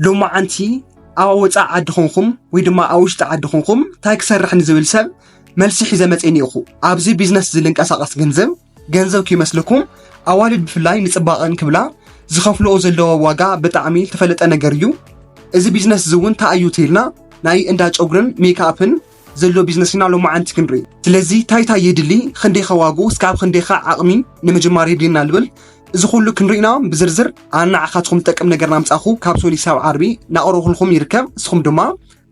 ሎማዓንቲ ኣብ ወፃኢ ዓዲ ኾንኩም ወይ ድማ ኣብ ውሽጢ ዓዲ ኾንኩም እንታይ ክሰርሕ ንዝብል ሰብ መልሲ ሒዘ መፅእ ኒኹ ኣብዚ ቢዝነስ እዚ ልንቀሳቐስ ገንዘብ ገንዘብ ከይመስለኩም ኣዋልድ ብፍላይ ንፅባቐን ክብላ ዝኸፍልኦ ዘለዎ ዋጋ ብጣዕሚ ተፈለጠ ነገር እዩ እዚ ቢዝነስ እዚ እውን እንታይ እዩ ተይልና ናይ እንዳ ጨጉርን ሜክኣፕን ዘሎ ቢዝነስ ኢና ሎማዓንቲ ክንርኢ ስለዚ ታይ ታይ የድሊ ኽንደይኸ ዋግኡ እስካብ ኽንደይኸ ዓቕሚ ንምጅማር የድልየና ልብል እዚ ኹሉ ክንርኢና ብዝርዝር ኣነ ንዓኻትኹም ዝጠቅም ነገር ናምፃኹ ካብ ሶኒ ሳብ ዓርቢ ናቕረብኹልኹም ይርከብ ንስኹም ድማ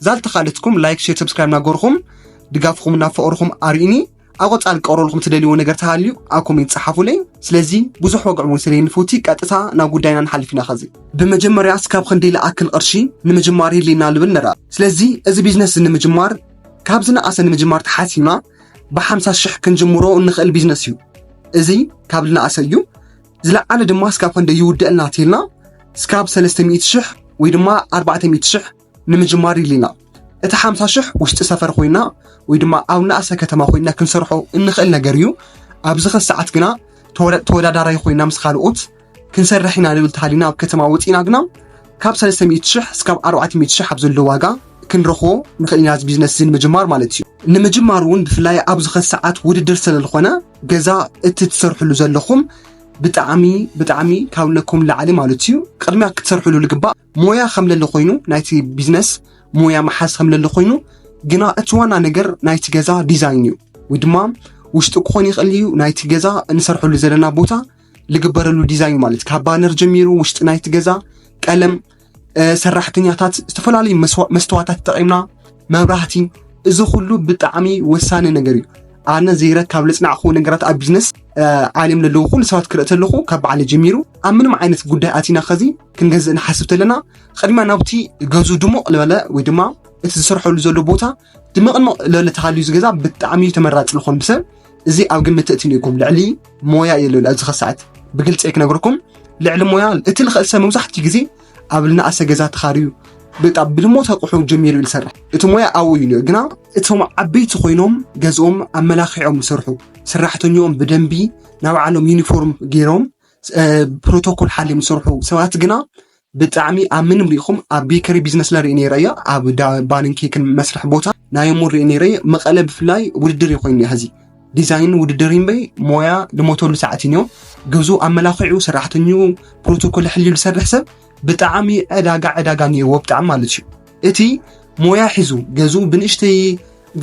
ዛልተኻለትኩም ላይክ ሼር ሰብስክራይብ ናገርኹም ድጋፍኹም ናፈቕርኹም ኣርእዩኒ ኣብ ቆጻል ክቀርበልኩም ትደልይዎ ነገር ተሃልዩ ኣብ ኮሜንት ጸሓፉለይ ስለዚ ብዙሕ ወግዕ እውን ስለየንፈቲ ቀጥታ ናብ ጉዳይና ንሓልፍ ኢና ከዚ ብመጀመርያ እስካብ ክንዲ ልኣክል ቅርሺ ንምጅማር ይድልየና ልብል ንርኣ ስለዚ እዚ ቢዝነስ እዚ ንምጅማር ካብ ዝነኣሰ ንምጅማር ተሓሲብና ብሓምሳ ሽሕ ክንጅምሮ እንኽእል ቢዝነስ እዩ እዚ ካብ ልነኣሰ እዩ ዝለዓለ ድማ እስካብ ክንዲ ይውድአልና ትልና እስካብ ሰለስተ ሚእቲ ሽሕ ወይ ድማ ኣርባዕተ ሚእቲ ሽሕ ንምጅማር ኢልና እቲ ሓምሳ ሽሕ ውሽጢ ሰፈር ኮይና ወይ ድማ ኣብ ንኣሰ ከተማ ኮይና ክንሰርሖ እንኽእል ነገር እዩ ኣብዚ ኸ ሰዓት ግና ተወዳዳራይ ኮይና ምስ ካልኦት ክንሰርሕ ኢና ንብል ተሃሊና ኣብ ከተማ ወፂእና ግና ካብ 300 ሽሕ እስካብ 400 ሽሕ ኣብ ዘሎ ዋጋ ክንረኽቦ ንኽእል ኢና እዚ ቢዝነስ እዚ ንምጅማር ማለት እዩ ንምጅማር እውን ብፍላይ ኣብዚ ኸ ሰዓት ውድድር ስለዝኾነ ገዛ እቲ ትሰርሕሉ ዘለኹም ብጣዕሚ ብጣዕሚ ካብ ነኩም ላዕሊ ማለት እዩ ቅድሚያ ክትሰርሕሉ ልግባእ ሞያ ከም ለለ ኮይኑ ናይቲ ቢዝነስ ሞያ መሓዝ ከም ለለ ኮይኑ ግና እቲ ዋና ነገር ናይቲ ገዛ ዲዛይን እዩ ወይ ድማ ውሽጢ ክኾን ይኽእል እዩ ናይቲ ገዛ እንሰርሐሉ ዘለና ቦታ ልግበረሉ ዲዛይን ማለት ካብ ባነር ጀሚሩ ውሽጢ ናይቲ ገዛ ቀለም ሰራሕተኛታት ዝተፈላለዩ መስተዋታት ተጠቂምና መብራህቲ እዚ ኩሉ ብጣዕሚ ወሳኒ ነገር እዩ ኣነ ዘይረ ካብ ለፅናዕኹ ነገራት ኣብ ቢዝነስ ዓለም ለለዉ ኩሉ ሰባት ክርኢ ተለኹ ካብ በዓለ ጀሚሩ ኣብ ምንም ዓይነት ጉዳይ ኣቲና ከዚ ክንገዝእ ንሓስብ ተለና ቅድሚያ ናብቲ ገዙ ድሙቕ ልበለ ወይ ድማ እቲ ዝሰርሐሉ ዘሎ ቦታ ድመቕንቕ ልበለ ተሃልዩ ዝገዛ ብጣዕሚ እዩ ተመራፂ ዝኾን ብሰብ እዚ ኣብ ግምት እቲ ንኢኩም ልዕሊ ሞያ የለን ኣብዚ ከሰዓት ብግልፂ ክነግርኩም ልዕሊ ሞያ እቲ ልኽእል ሰብ መብዛሕትኡ ግዜ ኣብ ልናእሰ ገዛ ተኻርዩ ብጣ ብድሞ ተቑሑ ጀሚሩ እዩ ዝሰርሕ እቲ ሞያ ኣብኡ እዩ ነዮ ግና እቶም ዓበይቲ ኮይኖም ገዝኦም ኣመላኪዖም ዝሰርሑ ሰራሕተኛኦም ብደንቢ ናብዓሎም ዩኒፎርም ገይሮም ፕሮቶኮል ሓልዮም ዝሰርሑ ሰባት ግና ብጣዕሚ ኣብ ምንም ሪኢኹም ኣብ ቤከሪ ቢዝነስ ላ ርኢ ነይረ እያ ኣብ ባንን ኬክን መስርሒ ቦታ ናይ እሞ ርኢ ነይረ መቐለ ብፍላይ ውድድር እዩ ኮይኑ ሕዚ ዲዛይን ውድድር እምበይ ሞያ ልሞተሉ ሰዓት እዮ ገዙ ኣመላኽዑ ሰራሕተኙ ፕሮቶኮል ሕልዩ ዝሰርሕ ሰብ ብጣዕሚ ዕዳጋ ዕዳጋ ነይዎ ብጣዕሚ ማለት እዩ እቲ ሞያ ሒዙ ገዝኡ ብንእሽተይ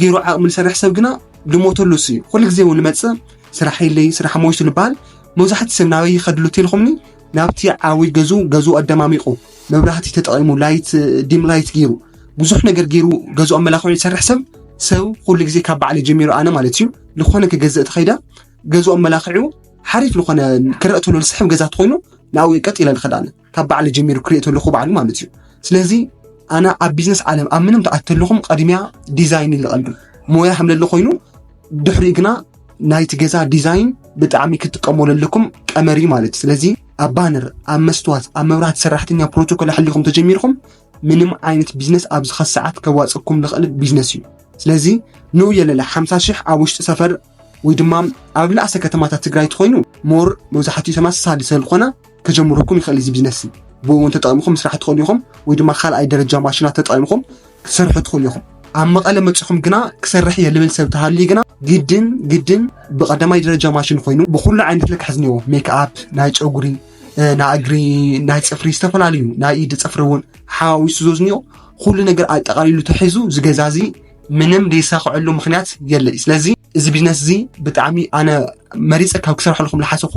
ገይሩ ዓቕሚ ዝሰርሕ ሰብ ግና ድሞተሉ እሱ እዩ ኩሉ ግዜ እውን ንመፅእ ስራሕ የለይ ስራሕ ሞይቱ ንበሃል መብዛሕትኡ ሰብ ናበይ ይኸድሉ ቴልኹምኒ ናብቲ ዓብይ ገዝኡ ገዝኡ ኣደማሚቑ መብራህቲ ተጠቒሙ ላይት ዲም ላይት ገይሩ ብዙሕ ነገር ገይሩ ገዝኡ ኣመላኽዑ ዝሰርሕ ሰብ ሰብ ኩሉ ግዜ ካብ ባዕለ ጀሚሩ ኣነ ማለት እዩ ዝኾነ ክገዝእ ተኸይደ ገዝኡ ኣመላኽዑ ሓሪፍ ዝኾነ ክረእ ተሎ ዝስሕብ ገዛ ተኾይኑ ንኣው ቀጥ ኢለ ንኸዳነ ካብ ባዕለ ጀሚሩ ክሪኦ ተለኹ ባዕሉ ማለት እዩ ስለዚ ኣነ ኣብ ቢዝነስ ዓለም ኣብ ምንም ተኣት ተለኹም ቀድሚያ ዲዛይን ይልቐልዱ ሞያ ከምለለ ኮይኑ ድሕሪ ግና ናይቲ ገዛ ዲዛይን ብጣዕሚ ክትጥቀሙ ለለኩም ቀመሪ ማለት እዩ ስለዚ ኣብ ባነር ኣብ መስትዋት ኣብ መብራህቲ ሰራሕተኛ ፕሮቶኮል ኣሕሊኹም ተጀሚርኩም ምንም ዓይነት ቢዝነስ ኣብዚ ኸሰዓት ከዋፀኩም ዝኽእል ቢዝነስ እዩ ስለዚ ንኡ የለለ ሓምሳ ሽሕ ኣብ ውሽጢ ሰፈር ወይ ድማ ኣብ ልኣሰ ከተማታት ትግራይ ትኾይኑ ሞር መብዛሕትኡ ተመሳሳሊ ሰልኾነ ከጀምረኩም ይኽእል እዚ ቢዝነስ እዚ ብእውን ተጠቂምኹም ምስራሕ ትኽእሉ ኢኹም ወይ ድማ ካልኣይ ደረጃ ማሽናት ተጠቂምኹም ክሰርሑ ትኽእሉ ኢኹም ኣብ መቐለ መፅኹም ግና ክሰርሕ እየ ልብል ሰብ ተሃልዩ ግና ግድን ግድን ብቀዳማይ ደረጃ ማሽን ኮይኑ ብኩሉ ዓይነት ልክዕ ዝኒዎ ሜክኣፕ ናይ ጨጉሪ ናይ እግሪ ናይ ፅፍሪ ዝተፈላለዩ ናይ ኢድ ፅፍሪ እውን ሓዋዊሱ ዞዝኒኦ ኩሉ ነገር ኣጠቃሊሉ ተሒዙ ዝገዛዚ ምንም ዘይሳኽዐሉ ምክንያት የለ እዩ ስለዚ እዚ ቢዝነስ እዚ ብጣዕሚ ኣነ መሪፀ ካብ ክሰርሐልኩም ዝሓሰኹ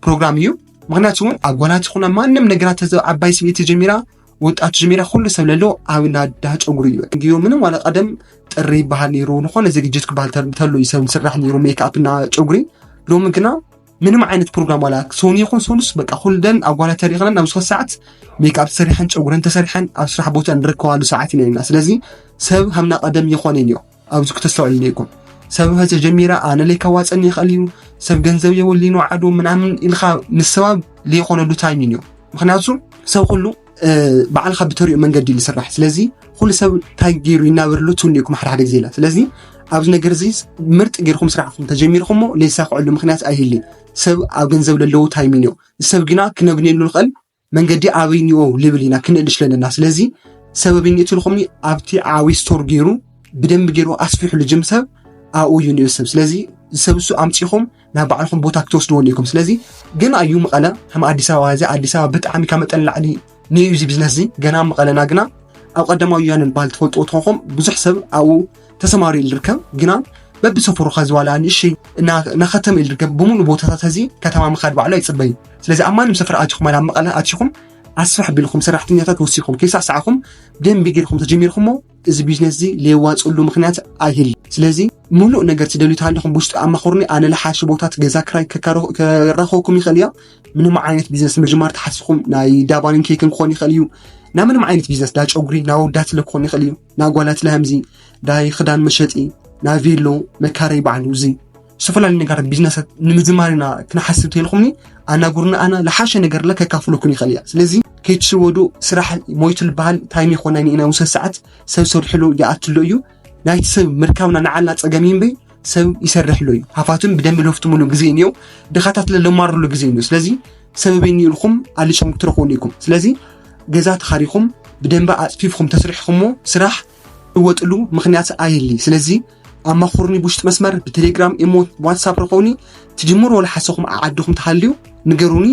ፕሮግራም እዩ ምክንያቱ እውን ኣብ ጓላት ይኹና ማንም ነገራት ተዘ ዓባይ ስብኢቲ ጀሚራ ወጣቱ ጀሚራ ኩሉ ሰብ ለሎ ኣብ ናዳ ጨጉሪ እዩ እንግዮ ምንም ዋላ ቀደም ጥሪ ይበሃል ነይሩ ዝኾነ ዝግጅት ክበሃል ተሎ እዩ ሰብ ዝስራሕ ነይሩ ሜክኣፕ እና ጨጉሪ ሎሚ ግና ምንም ዓይነት ፕሮግራም ዋላ ሶኒ ይኹን ሶኑስ በቃ ኩልደን ኣጓላት ተሪኽነን ኣብ ዝኾነ ሰዓት ሜክኣፕ ተሰሪሐን ጨጉረን ተሰሪሐን ኣብ ስራሕ ቦታ ንርከባሉ ሰዓት ኢና ኢና ስለዚ ሰብ ሃምና ቀደም ይኾነን እዮ ኣብዚ ክተስተውዕል ነይኩም ሰብ ምህዘ ጀሚራ ኣነ ለይ ከዋፀን ይኽእል እዩ ሰብ ገንዘብ የወሊኑ ዓዱ ምናምን ኢልካ ምሰባብ ዘይኾነሉ ታይሚን እዩ ምክንያቱ ሰብ ኩሉ ባዕልካ ብተሪኡ መንገዲ እዩ ዝስራሕ ስለዚ ኩሉ ሰብ እንታይ ገይሩ ይናበር ሉ ትብሉ ኢኩም ሓደ ሓደ ግዜ ኢላ ስለዚ ኣብዚ ነገር እዚ ምርጥ ጌርኩም ስራሕኩም ተጀሚርኩሞ ዘይሳክዐሉ ምክንያት ኣይህልይ ሰብ ኣብ ገንዘብ ለለዉ ታይሚን እዩ ሰብ ግና ክነግኔሉ ንክእል መንገዲ ኣበይ ኒኦ ልብል ኢና ክንእል ሽለለና ስለዚ ሰበብ ይኒእትልኩም ኣብቲ ዓብይ ስቶር ገይሩ ብደንብ ገይሩ ኣስፊሑሉ ጅም ሰብ ኣብኡ እዩ ንኡ ሰብ ስለዚ ዝሰብሱ ኣምፂኹም ናብ ባዕልኹም ቦታ ክትወስድዎ ኣለኩም ስለዚ ግን ኣዩ መቐለ ከም ኣዲስ ኣበባ እዚ ኣዲስ ኣበባ ብጣዕሚ ካብ መጠን ላዕሊ ንዩ እዚ ቢዝነስ እዚ ገና መቐለና ግና ኣብ ቀዳማዊ ወያነ ዝበሃል ትፈልጥዎ ትኾንኩም ብዙሕ ሰብ ኣብኡ ተሰማሪ ዝርከብ ግና በብሰፈሩ ከዚ ዋላ ንእሽተይ ናኸተም ኢል ዝርከብ ብምሉእ ቦታታት እዚ ከተማ ምኻድ ባዕሉ ኣይፅበዩ ስለዚ ኣብ ማንም ሰፈር ኣትኹም ኣብ መቐለ ኣትኹም ኣስፍሕ ቢልኩም ሰራሕተኛታት ወሲኹም ከይሳዕሳዕኹም ደንቢ ጌርኩም ተጀሚርኩሞ እዚ ቢዝነስ እዚ ለየዋፅእሉ ምክንያት ኣይህል ስለዚ ሙሉእ ነገር ትደልዩ ተሃለኹም ብውሽጢ ኣማኽሩኒ ኣነ ልሓሽ ቦታት ገዛ ክራይ ከራኸብኩም ይኽእል እያ ምንም ዓይነት ቢዝነስ ምጅማር ተሓሲኹም ናይ ዳባንን ኬክን ክኾን ይኽእል እዩ ናብ ምንም ዓይነት ቢዝነስ ዳ ጨጉሪ ናብ ወዳት ስለ ክኾን ይኽእል እዩ ናብ ጓላት ለሃምዚ ዳይ ክዳን መሸጢ ናብ ቬሎ መካረይ ባዕሉ እዚ ዝተፈላለዩ ነገራት ቢዝነሳት ንምዝማር ኢና ክንሓስብ ተይልኹምኒ ኣናግሩና ኣና ዝሓሸ ነገር ለ ከካፍለኩም ይኽእል እያ ስለዚ ከይትሽወዱ ስራሕ ሞይቱ ዝበሃል ታይም ይኮነ ኢና ውሰ ሰዓት ሰብ ሰርሕሉ ይኣትሎ እዩ ናይቲ ሰብ ምርካብና ንዓልና ፀገም እዩ እምበይ ሰብ ይሰርሕሉ እዩ ሃፋቱን ብደንቢ ለፍትምሉ ግዜ እኒኦ ድኻታት ለማርሉ ግዜ እኒኦ ስለዚ ሰበበይ ኒኢልኩም ኣሊሾም ትረኽቡሉ ኢኩም ስለዚ ገዛ ተኻሪኹም ብደንቢ ኣፅፊፍኩም ተስሪሕኹምዎ ስራሕ ልወጥሉ ምክንያት ኣየሊ ስለዚ ኣማኹርኒ ብውሽጢ መስመር ብቴሌግራም ኢሞ ዋትሳፕ ረኸውኒ ትጅምሮ ልሓሰኹም ዓዓድኹም ተሃልዩ ንገሩኒ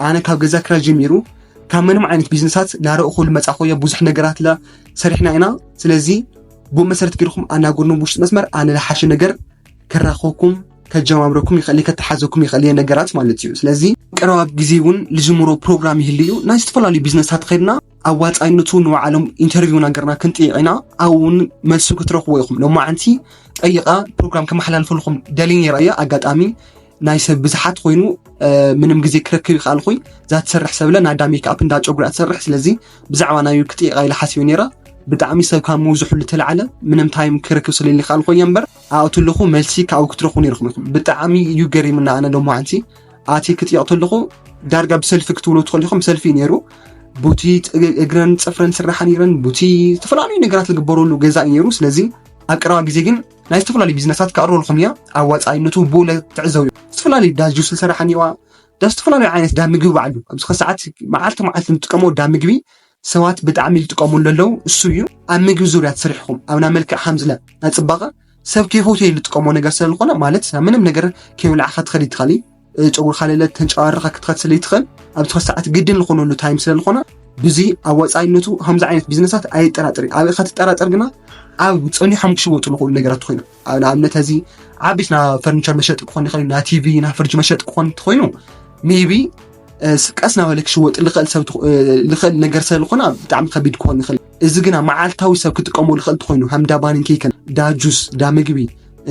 ኣነ ካብ ገዛ ክራይ ጀሚሩ ካብ ምንም ዓይነት ቢዝነሳት ላረእኹ ልመፃኹዮ ብዙሕ ነገራት ለ ሰሪሕና ኢና ስለዚ ብኡ መሰረት ጌርኩም ኣናጉርኒ ብውሽጢ መስመር ኣነ ልሓሸ ነገር ከራኸኩም ከጀማምረኩም ይኽእል ከተሓዘኩም ይኽእል እየ ነገራት ማለት እዩ ስለዚ ቀረባ ግዜ እውን ልጅምሮ ፕሮግራም ይህልዩ ናይ ዝተፈላለዩ ቢዝነስታት ኸድና ኣዋፃይነቱ ንባዕሎም ኢንተርቪው ነገርና ክንጥይቕ ኢና ኣብኡ እውን መልሱ ክትረኽቡ ኢኹም ሎማዓንቲ ጠይቐ ፕሮግራም ከመሓላልፈልኩም ደልየ ነይረ እየ ኣጋጣሚ ናይ ሰብ ብዝሓት ኮይኑ ምንም ግዜ ክረክብ ይክኣልኩይ እዛ ትሰርሕ ሰብለ ናይ ኣዳ ሜክኣፕ እንዳ ጨጉሪ ትሰርሕ ስለዚ ብዛዕባ ናይ ክጥይቃ ኢለ ሓሲበ ነይረ ብጣዕሚ ሰብ ካብ ምውዝሕሉ ተላዕለ ምንም ታይም ክረክብ ስለኒ ካልኮ እየ እምበር ኣእቱ ኣለኹ መልሲ ካብኡ ክትረኽቡ ነይርኩም ኢኹም ብጣዕሚ እዩ ገሪምና ኣነ ሎማዓንቲ ኣቲ ክጥየቕ ተለኹ ዳርጋ ብሰልፊ ክትብሉ ትኸሊኹም ሰልፊ ነይሩ ቡቲ እግረን ፅፍረን ስራሓ ነይረን ቡቲ ዝተፈላለዩ ነገራት ዝግበረሉ ገዛ እዩ ነይሩ ስለዚ ኣብ ቀረባ ግዜ ግን ናይ ዝተፈላለዩ ቢዝነሳት ክቀርበልኩም እያ ኣብ ወፃኢነቱ ብኡለ ትዕዘቡ ዝተፈላለዩ ዳ ጁስ ዝሰራሓ እኒዋ ዳ ዝተፈላለዩ ዓይነት ዳ ምግቢ ባዕሉ ኣብዚ ከሰዓት መዓልቲ መዓልቲ ንጥቀሞ ዳ ምግቢ ሰባት ብጣዕሚ ዝጥቀሙሉ ዘለዉ እሱ እዩ። ኣብ ምግቢ ዙርያ ተሰሪሕኩም ኣብ ናይ መልክዕ ከምዝለ ናይ ፅባቐ ሰብ ከይፈትዮ ዝጥቀሞ ነገር ስለ ዝኾነ ማለት ናብ ምንም ነገር ከይብላዕካ ትኸድ ይትኸል እዩ ፀጉርካ ለለ ተንጨባርኻ ክትኸድ ስለ ይትኸል ኣብ ትኸድ ሰዓት ግድን ዝኾነሉ ታይም ስለ ዝኾነ ብዙ ኣብ ወፃኢነቱ ከምዚ ዓይነት ቢዝነሳት ኣየጠራጥር እዩ ኣብ ከትጠራጠር ግና ኣብ ፀኒሖም ክሽወጡ ዝኽእሉ ነገራት ኮይኑ ኣብ ንኣብነት እዚ ዓበይት ና ፈርኒቸር መሸጢ ክኾን ይኽእል ዩ ና ቲቪ ና ፍርጅ መሸጢ ክኾን እንተኾይኑ ሜቢ ቀስ ናበለ ክሽወጥ ልኽእል ሰብ ልኽእል ነገር ስለ ዝኾነ ብጣዕሚ ከቢድ ክኾን ይኽእል እዚ ግና መዓልታዊ ሰብ ክጥቀሞ ልኽእል ትኾይኑ ከም ዳ ባንን ኬክን ዳ ጁስ ዳ ምግቢ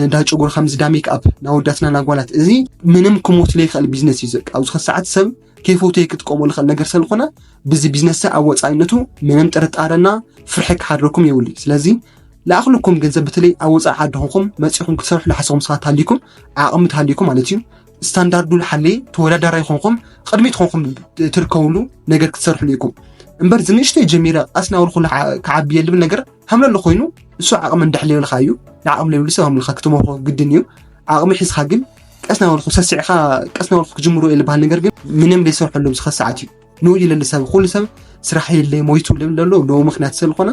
እንዳ ጨጉሪ ከምዚ ዳ ሜክኣፕ ናወዳትና ናጓላት እዚ ምንም ክሞት ለይኽእል ቢዝነስ እዩ ዘቃ ኣብዚ ሰዓት ሰብ ከይፈተየ ክጥቀሞ ልኽእል ነገር ስለ ዝኾነ ብዚ ቢዝነስ ኣብ ወፃኢነቱ ምንም ጥርጣረና ፍርሒ ክሓድረኩም የብሉይ ስለዚ ልኣኽልኩም ገንዘብ በተለይ ኣብ ወፃኢ ዓዲ ኹንኩም መፂኹም ክትሰርሑ ልሓሰኹም ሰባት ሃሊኩም ዓቕሚ ትሃሊኩም ማለት እዩ ስታንዳርዱ ልሓለየ ተወዳዳራይ ኮንኩም ቅድሚት ኮንኩም ትርከብሉ ነገር ክትሰርሕሉ ኢኩም እምበር ዝንእሽተይ ጀሚረ ቃስ ናብሉ ኩሉ ክዓቢ የልብል ነገር ሃምለሎ ኮይኑ ንሱ ዓቕሚ እንዳሕ ለብልካ እዩ ንዓቕሚ ለብሉ ሰብ ሃምልካ ክትመርኮ ግድን እዩ ዓቕሚ ሒዝካ ግን ቀስ ናበልኩ ሰስዕካ ቀስ ናበልኩ ክጅምሮ የልባሃል ነገር ግን ምንም ዘይሰርሐሎም ዝኸሰዓት እዩ ንኡ ኢለ ሰብ ኩሉ ሰብ ስራሕ የለይ ሞይቱ ዝብል ዘሎ ንኡ ምክንያት ስለዝኾነ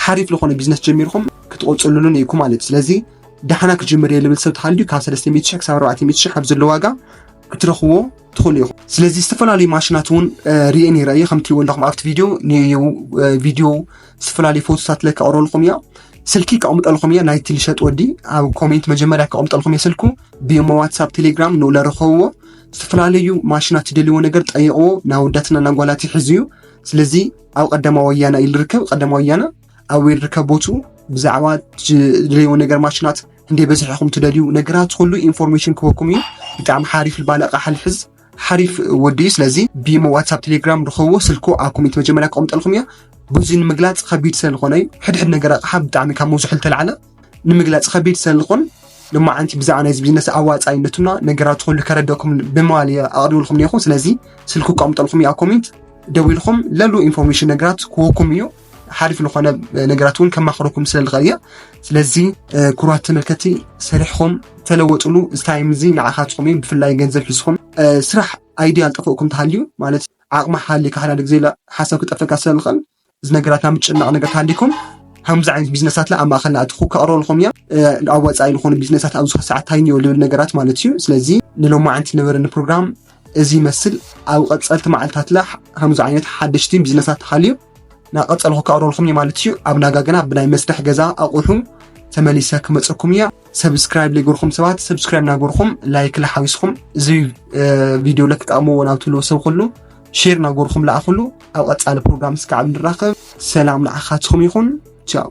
ሓሪፍ ዝኾነ ቢዝነስ ጀሚርኩም ክትቆፅሉሉን ኢኩም ማለት እዩ ስለዚ ዳሕና ክጅምር እየ ዝብል ሰብ ተሃልዩ ካብ 300 ሽሕ ክሳብ 400 ሽሕ ኣብ ዘሎ ዋጋ ክትረኽብዎ ትኽእሉ ኢኹም ስለዚ ዝተፈላለዩ ማሽናት እውን ርኤ ነይረ እየ ከምቲ ወለኹም ኣብቲ ቪድዮ ቪድዮ ዝተፈላለዩ ፎቶታት ለ ከቕረልኩም እያ ስልኪ ከቕምጠልኩም እየ ናይቲ ልሸጥ ወዲ ኣብ ኮሜንት መጀመርያ ከቕምጠልኩም እየ ስልኩ ብሞ ዋትሳፕ ቴሌግራም ንኡ ለረኸብዎ ዝተፈላለዩ ማሽናት ትደልይዎ ነገር ጠይቕዎ ንኣወዳትና ንኣጓላት ይሕዝ እዩ ስለዚ ኣብ ቀዳማ ወያና ኢሉ ርከብ ቀዳማ ወያና ኣብ ርከብ ቦቱ ብዛዕባ ትደልይዎ ነገር ማሽናት እንደ በዝሒ ኢኹም ትደልዩ ነገራት ኩሉ ኢንፎርሜሽን ክበኩም እዩ ብጣዕሚ ሓሪፍ ልባለ ኣቕሓ ልሕዝ ሓሪፍ ወዲ እዩ ስለዚ ቢሞ ዋትሳፕ ቴሌግራም ርኸቦ ስልኮ ኣብ ኮሜንት መጀመርያ ክቐምጠልኩም እያ ብዙ ንምግላፅ ከቢድ ስለዝኾነ እዩ ሕድሕድ ነገር ኣቕሓ ብጣዕሚ ካብ መብዝሑ ልተላዕለ ንምግላጽ ከቢድ ሰልኹን ልማዓንቲ ብዛዕባ ናይዚ ቢዝነስ ኣዋፃይነቱና ነገራት ኩሉ ከረደኩም ብምባል እየ ኣቕሪብልኩም ነኹ ስለዚ ስልኩ ከቕምጠልኩም እያ ኮሜንት ደዊልኩም ለሉ ኢንፎርሜሽን ነገራት ክወኩም እዩ ሓሪፍ ዝኾነ ነገራት እውን ከማኽረኩም ስለ ዝኽእል እየ ስለዚ ኩራት ተመልከቲ ሰሪሕኹም ተለወጥሉ እዚ ታይም እዚ ንዓኻትኹም እዩ ብፍላይ ገንዘብ ሒዝኹም ስራሕ ኣይድያ ዝጠፍእኩም ተሃልዩ ማለት ዓቕሚ ሓሊካ ሓዳደ ግዜ ሓሳብ ክጠፈካ ስለ ዝኽእል እዚ ነገራት ናብ ምጭናቕ ነገር ተሃሊኩም ከምዚ ዓይነት ቢዝነሳት ኣብ ማእኸልና እቲ ክቀርበልኩም እዮም ኣብ ወፃኢ ዝኾኑ ቢዝነሳት ኣብዚ ሰዓት ታይንዮ ልብል ነገራት ማለት እዩ ስለዚ ንሎማዓንቲ ነበረኒ ፕሮግራም እዚ ይመስል ኣብ ቀፀልቲ መዓልታትላ ከምዚ ዓይነት ሓደሽቲ ቢዝነሳት ተሃልዩ ናብ ቀፀልኩ ክቀርበልኩም እዩ ማለት እዩ ኣብ ናጋ ግና ብናይ መስርሕ ገዛ ኣቑሑ ተመሊሰ ክመፀኩም እያ ሰብስክራይብ ዘይገርኩም ሰባት ሰብስክራይብ ናገርኩም ላይክ ላሓዊስኩም እዚ ቪድዮ ለትጠቕምዎ ናብ ትብልዎ ሰብ ኩሉ ሼር ናገርኩም ለኣኹሉ ኣብ ቐፃሊ ፕሮግራም ስከ ኣብ ንራኸብ ሰላም ንዓኻትኩም ይኹን ቻው